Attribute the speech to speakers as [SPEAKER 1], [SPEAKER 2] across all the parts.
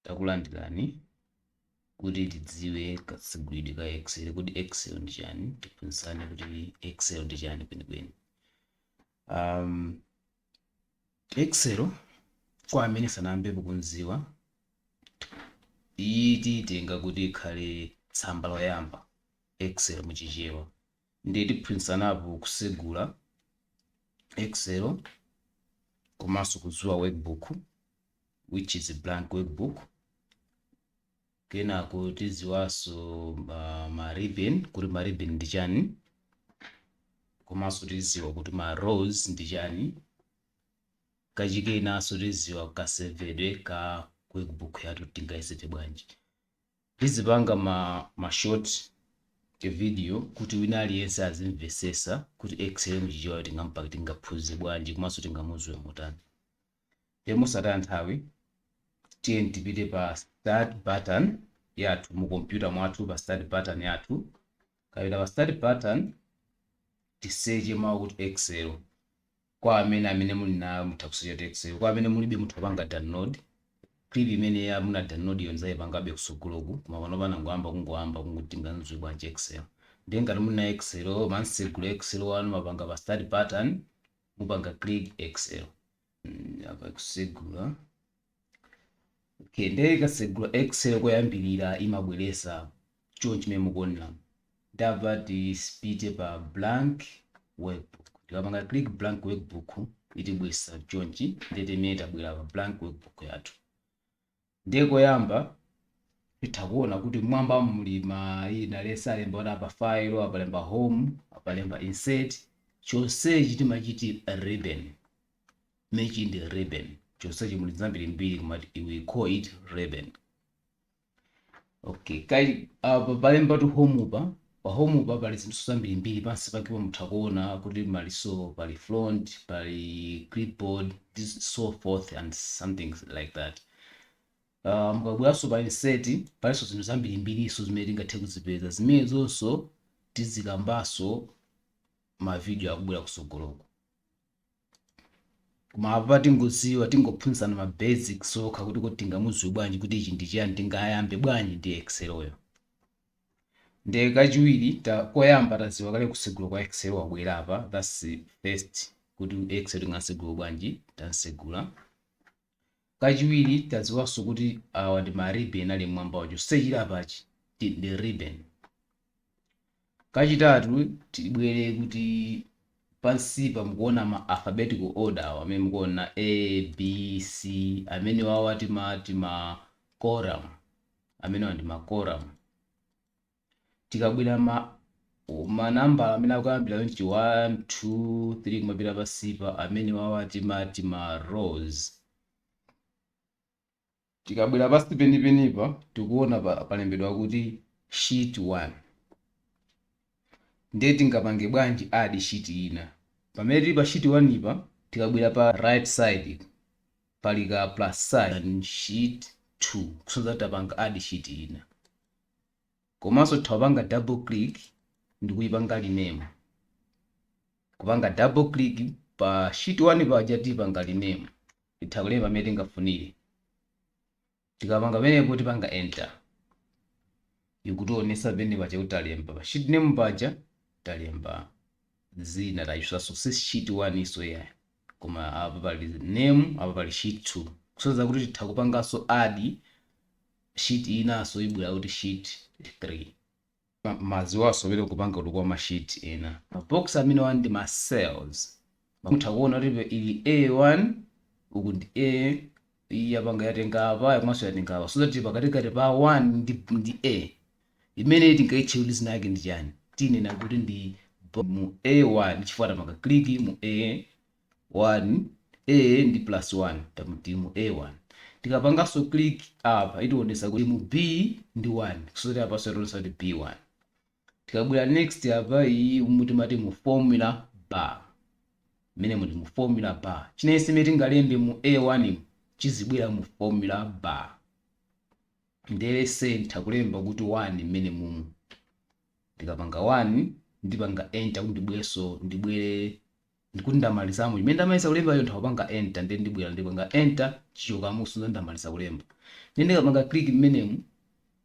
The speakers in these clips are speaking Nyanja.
[SPEAKER 1] Takulandirani kuti tidziwe kasegulidwe ka Excel. Kodi Excel ndi chani? Tiphunzitsane kuti Excel ndi chani kwenikweni. Um, Excel kwa amene sanayambepo kumziwa iyi tiitenga kuti ikhale tsamba loyamba Excel mu Chichewa. Ndiye tiphunzitsanapo kusegula Excel komanso kudziwa workbook which is blank workbook kenako tiziwanso uh, ma ribbon kuti ma ribbon ndi chani komanso tiziwa kuti ma rows ndi chani kachikenanso tiziwa kasevedwe ka workbook yathu tingayiseve bwanji tizipanga ma, ma short video kuti wina aliyense azimvesesa kuti excel muchichewa tingampake tingaphunzire bwanji komanso tingamuziwe motani Ndiye mosataya nthawi tiyeni tipite pa start button yathu mu kompyuta mwathu pa start button yathu tikapita pa start button tiseche mawu kuti excel kwa amene amene muli nayo mutha kusecha kuti excel kwa amene mulibe mutha kupanga download clip imene ya muna download iyo nzayipangabe kusogoloku koma pano panangoyamba kungoyamba kuti tingamuziwe bwanji excel ndiye ngati muli ndi excel mumsegula excel wanu mupanga pa start button mupanga click excel mm, apa kusegula okay nde ikasegula excel koyambirira imabweresa chonchi chimene mukuonera ndapa tipite pa blank workbook tikapanga click blank workbook itibweresa chonchi nde mmene tabwera pa blank workbook yathu Ndiye koyamba titha kuona kuti mmwambamu muli maina lesa alemba kuti apa file apalemba home apalemba insert chonsechi timachiti ribbon chimenechi ndi ribbon chonsechi muli zambirimbiri koma we call it ribbon Okay, kai apa palembatu home-pa pa home-pa pali zinthu zambirimbiri pansi pakepo mutha kuona kuti maliso pali font pali clipboard this so forth and something like that uh, mukabweranso pa insert palinso zinthu zambirimbiriso zimene tingathe kuzipeza zimenezonso tizikambanso m'mavidiyo akubwera kusogoloko Koma apa tingoziwa tingophunzitsana ma basics okha kuti kodi tingamuziwe bwanji kuti ichi ndi chiyani tingayambe bwanji ndi excel yo ndiye kachiwiri ta koyamba taziwa kale kusegula kwa excel wabwera apa that's first kuti excel tingasegule bwanji tamsegula Kachiwiri tadziwanso kuti awa ndi ma ribbon ali mmwambawa chonse chili apachi ndi ndi ribbon. Kachitatu tibwere kuti pansipa mukuona ma alphabetical order awa amene mukuona A, B, C amenewawa timati ma column amenewa ndi ma column. tikabwera ma manambala amene akuyambira ndi 1 2 3 kumapita pansipa amenewawa timati ma rows tikabwera pansi penipenipa tikuona pa, palembedwa kuti sheet 1 ndiye tingapange bwanji add sheet ina pamene tili pa sheet 1 apa tikabwera pa right side pali ka plus sign sheet 2 kusonyeza tapanga add sheet ina komanso titha kupanga double click ndikuyipanga rename kupanga double click pa sheet 1 paja tipanga rename titha kulemba mmene tingafunire tikapanga pamenepo tipanga enter ikutionesa penepaja kuti talemba pa sheet name paja talemba zina tayisanso si sheet 1 so iyayi koma apa pali name apa pali sheet 2 kusonyeza kuti titha kupanganso add sheet inanso ibwera kuti sheet 3. madziwo asowere kupanga kuti kwa ma sheet ena. Ma box amenewa ndi ma cells. Mutha kuona kuti apa ili A1 uku ndi A iyi yapanga yatenga apa komanso yatenga apa so that pakatikati pa 1 ndi, ndi A imeneyi tingaitche kuti dzina lake ndi chani tinena kuti ndi bo- mu A1 chifukwa tapanga click mu A 1 A ndi plus 1 timati mu A1 tikapanganso click apa itionetsa kuti mu B ndi 1 kusonyeza apanso yationetsa kuti B1 tikabwera next apa iyi umu timati mu formula bar mmene muli mu formula bar chilichonse imene tingalembe mu A1 mu chizibwera mu formula bar ndiye ndiyesa kulemba kuti 1 mmenemumu ndikapanga 1 ndipanga enter kuti ndibwerenso ndibwere ndikuti ndamalizamo imene ndamaliza kulembayo nditha kupanga enter ndiye ndibwera ndipanga enter ichokamo kusonyeza ndamaliza kulemba ndiye ndikapanga click mmenemu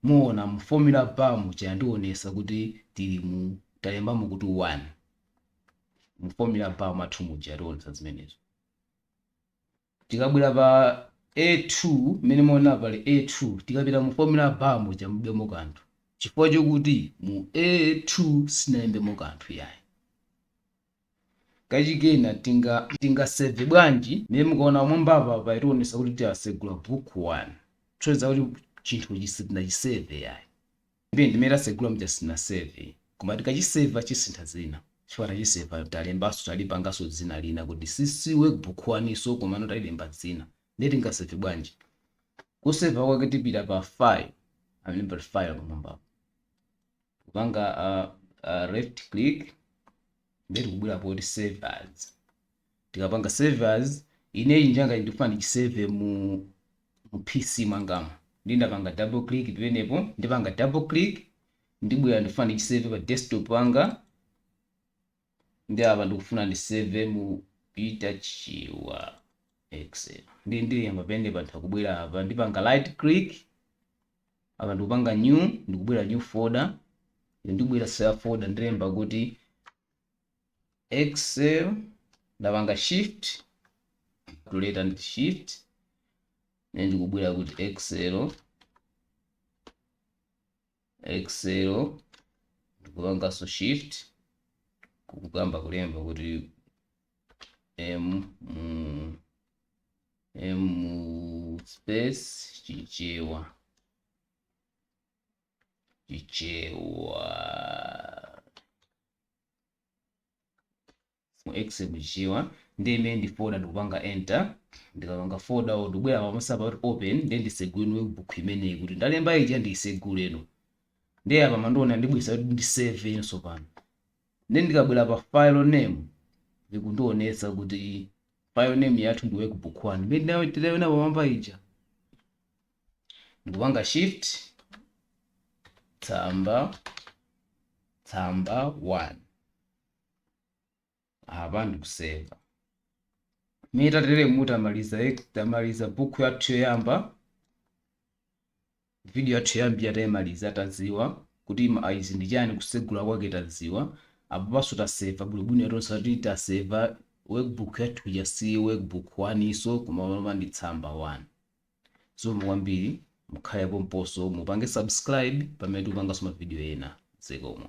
[SPEAKER 1] muona mu formula bar muja yandionesa kuti tili mu talembamo kuti 1 mu formula bar mwathu muja yatiwonesa zimenezo Tikabwera pa A2, mmene mwaonera pali A2, tikapita mu formula bar muja mulibemo kanthu chifukwa chokuti mu A2 sitinalembemo kanthu iyayi. Kachiwiri kena tinga tinga save bwanji? Mmene mukaona pamwambapa payationetsa kuti tasegula book 1, kusonyeza kuti chinthuchi sitinachiseve iyayi. Ndiye ndimene tasegula muja sitinaseve koma tikachiseva chisintha dzina chifukwa tachiseva talembanso talipanganso dzina lina kuti si si workbook 1 nso komano talilemba dzina ndiye tingaseve bwanji kuseva kwake tipita pa file pamene pali file pamwambapo kupanga uh, uh, left click ndiye tikubwera poti save as Tikapanga save as, ineyo njangayi ndikufuna ndichiseve mu mu PC mwangamu. Ndiye ndapanga double click penepo, ndipanga double click, ndibwera ndikufuna ndichiseve pa desktop panga, ndiye apa ndikufuna ndiseve mu Peter Chirwa Excel. Ndiye ndilemba penepa nditha kubwera apa, ndipanga right click, apa ndikupanga new, ndikubwera new folder, ndibwera save folder, ndilemba kuti excel ndapanga shift tuleta ndi shift then ndikubwera kuti excel excel ndikupanganso shift kukayamba kulemba kuti m mu- m mu space chichewa chichewa mu excel chichewa ndiye imene ndi folder ndikupanga enter ndikapanga folder yo ndikubwera pamwambapa kuti open ndiye ndisegule workbook imeneyi kuti ndalemba ija ndiseguleno ndiye apa ikundionetsa ndibwisa kuti ndiseve nso pano ndiye ndikabwera pa file name likundionetsa kuti file name yathu ndi workbook 1 imene tinaiona pamwamba ija ndikupanga shift tsamba tsamba 1 apa ndikuseva mmene tatere mutamaliza tamaliza bukhu yathu yoyamba video yathu yoyamba yatayimaliza tadziwa kuti ma- izi ndi chani kusegula kwake tadziwa apopanso taseva bwinobwino yationetsa kuti taseva workbook yathu ija si workbook 1 nso koma lomba ndi tsamba 1 Zikomo kwambiri mukhale pomponso mupange subscribe pamene tikupanganso mavidiyo ena. Zikomo.